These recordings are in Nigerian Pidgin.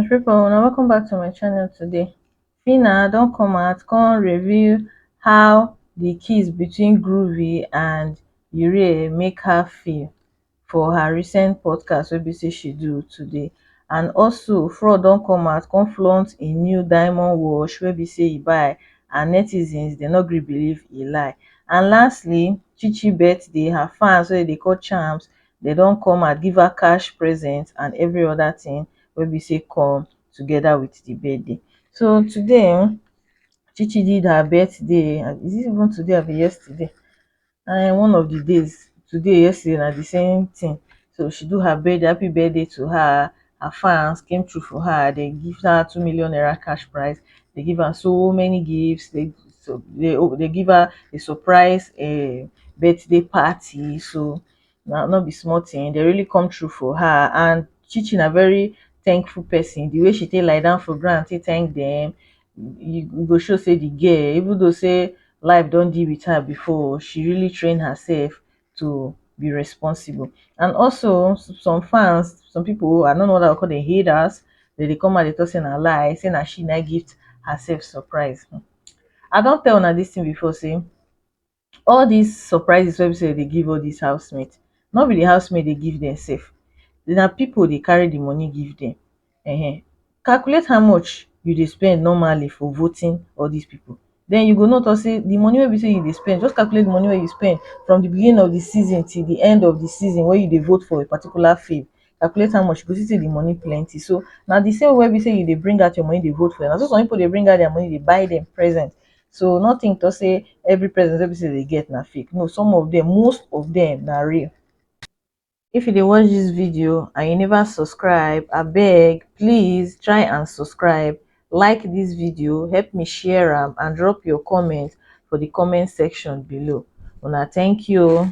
my people una welcome back to my channel today Phyna don come out come reveal how the kiss between Groovy and Urie make her feel for her recent podcast wey be say she do today and also fraud don come out come flaunt e new diamond wash wey be say e buy and netizens dem no gree believe e lie and lastly chi chi birthday her fans wey dem dey call chams dem don come out give her cash present and every other thing wey be say come together with the birthday so today um chi chi did her birthday is it even today abi yesterday na one of the days today yesterday na the same thing so she do her birthday happy birthday to her her fans came through for her they give her two million naira cash prize they give her so many gifts they so they oh they give her a surprise um birthday party so na no be small thing they really come through for her and Chichi na very thankful person the way she take lie down for ground take thank them e go show sey the girl even though sey life don deal with her before she really train herself to be responsible and also some fans some people i no know whether i go call them haters dem dey come out dey talk say na lie say na she na im give herself surprise i don tell una this thing before sey all dis surprises wey be sey dem dey give all dis house mate no be de house mate dey give dem sef na pipu dey carry de money give dem um calculate how much you dey spend normally for voting all dis pipu den you go know talk sey de money wey be sey you dey spend just calculate de money wey you spend from de beginning of de season till de end of de season wey you dey vote for a particular field calculate how much you go see sey de money plenty so na de same way wey be sey you dey bring out your money dey vote for dem na so some pipu dey bring out their money dey buy dem present so no think to say every present wey be say they get na fake no some of them most of them na real if you dey watch this video and you never subscribe I beg, please try and subscribe like this video help me share am and drop your comment for the comment section below una thank you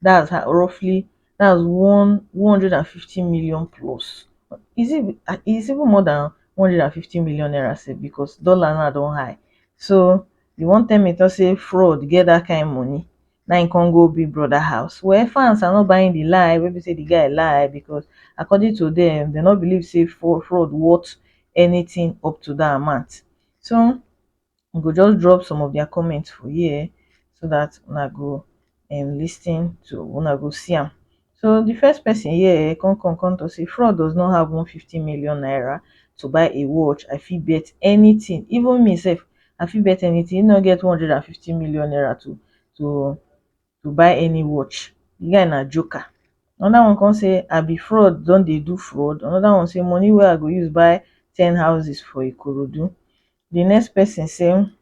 that's her roughly that's one one hundred and fifty million plus is it ah is even more than one hundred and fifty million naira sef because dollar now don high so you wan tell me to say fraud get that kind money na him come go big brother house well fans are not buying the lie wey be say the guy lie because according to them they no believe say fraud fraud worth anything up to that amount so i go just drop some of their comments for here so that una go um lis ten to una go see am so the first person here come come come talk say fraud does not have one fifty million naira to buy a watch i fit bet anything even me sef i fit bet anything he no get one hundred and fifty million naira to to to buy any watch the guy na joker another one come say i be fraud don dey do fraud another one say money wey i go use buy ten houses for ikorodu the next person say um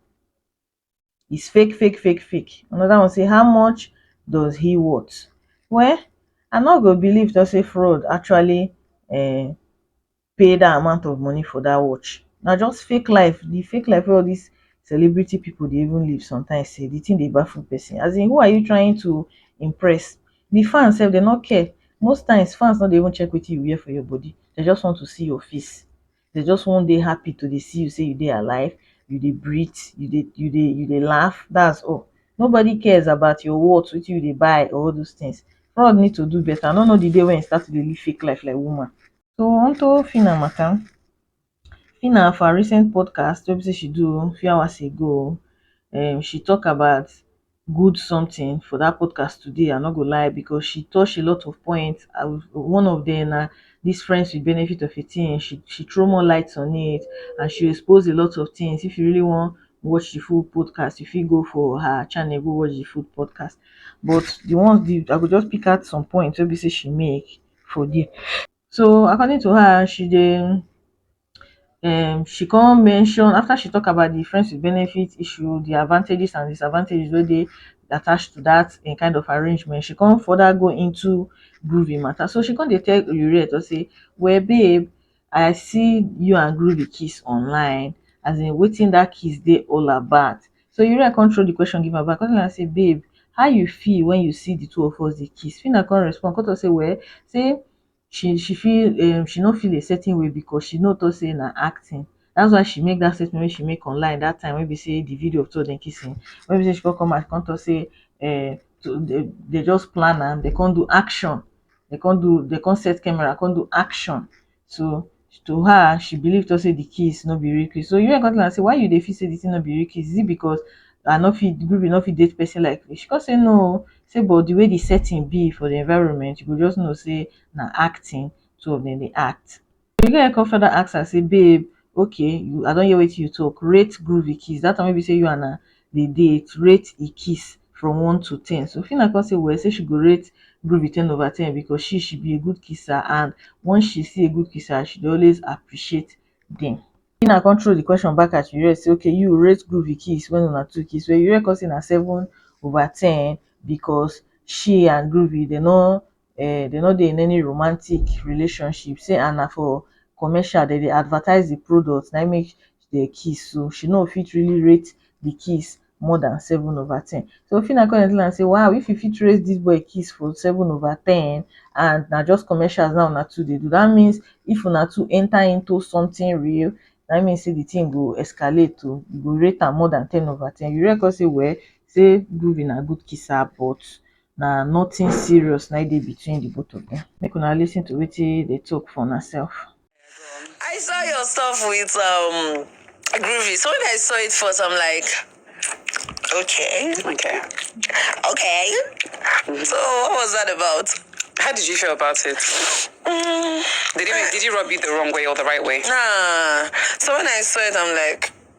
is fake fake fake fake another one say how much does he worth well i no go believe to say fraud actually um pay that amount of money for that watch na just fake life the fake life wey all this celebrity people dey even live sometimes sef the thing dey baffle person as in who are you trying to impress the fans sef dem no care most times fans no dey even check wetin you wear for your body they just want to see your face dem just wan dey happy to dey see you sey you dey alive, you dey breathe, you dey you dey you dey laugh, that's all. Nobody cares about your worth, wetin you dey buy or all those things. Fraud need to do better. I no know the day wey e start to dey live fake life like woman. So on to Phyna matter. Phyna for her recent podcast wey be sey she do few hours ago, um she talk about good something for that podcast today i no go lie because she touch a lot of points I, one of them na this friends with benefit of a thing she she throw more lights on it and she expose a lot of things if you really want watch the full podcast if you go for her channel go watch the full podcast but the ones the, i go just pick out some points wey be say she make for there so according to her she dey um she come mention after she talk about the friends with benefits issue the advantages and disadvantages wey dey attached to that um kind of arrangement she come further go into groovy matter so she come dey tell Oyeruye to say well babe I see you and groovy kiss online as in wetin that kiss dey all about so Oyeruye come throw the question give am back come tell am say babe how you feel when you see the two of us dey kiss Phyna come respond come talk say well say she she feel um she no feel a certain way because she know talk say na acting that's why she make that statement wey she make online that time wey be say the video of two of them kissing wey be say she come come out come talk say um they just plan am they come do action they come do they come set camera come do action so to her she believe talk say the kiss no be real kiss so Yul come tell am say why you dey feel say the thing no be real kiss is it because I no fit Ruby no fit date person like me she come say no o say but the way the setting be for the environment you go just know say na acting two of them dey act the guy come further ask her say babe okay I don hear wetin you talk rate Groovy kiss that time wey be say you and am dey date rate him kiss from one to ten so phyna come say well say she go rate groovy ten over ten because she she be a good kisser and once she see a good kisser she dey always appreciate dem phyna come throw the question back at yurek say okay you rate groovy kiss when una two kiss well yurek come say na seven over ten because she and groovy dem no um dem no dey in any romantic relationship say and na for commercial dem dey advertise the product na im make dem kiss so she no fit really rate the kiss more than seven over ten so Phyna come dey tell am say wow if you fit rate this boy kiss for seven over ten and na just commercials na una two dey do that means if una two enter into something real na im mean say the thing go escalate oh you go rate am more than ten over ten Yuriko say well say Groovy na good kisser but na nothing serious na dey between the both of them make una lis ten to wetin they talk for una self. I saw your stuff with um Groovy. So when I saw it first, I'm like, okay, okay, okay. Mm-hmm. So what was that about? How did you feel about it? Mm. Did he did he rub you the wrong way or the right way? Nah. So when I saw it, I'm like,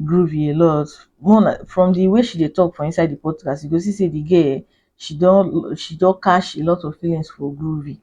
groovy a lot more like from the way she dey talk for inside the podcast you go see say the girl um she don she don catch a lot of feelings for groovy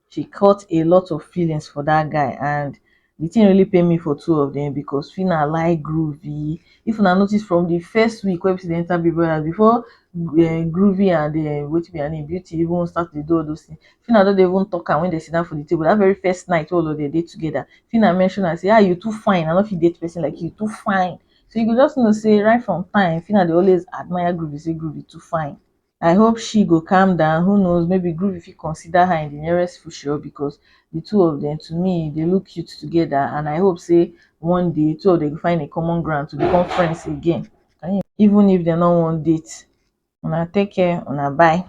she caught a lot of feelings for that guy and the thing really pain me for two of them because Phyna like groovy if una notice from the first week wey be say they enter big brother before um groovy and um wetin be her name beauty even start to dey do all those things Fina don dey even talk am when they sit down for the table. That very first night all of them dey together. Fina mentioned and say, ah, you too fine. I don't feel date person like you. Too fine. So you could just know, say, right from time, Fina, they always admire Groovy, say Groovy too fine. I hope she go calm down. Who knows? Maybe Groove if you consider her in the nearest future because the two of them, to me, they look cute together. And I hope, say, one day, two of them will find a common ground to become friends again. Even if they don't want date. Una take care. Una bye.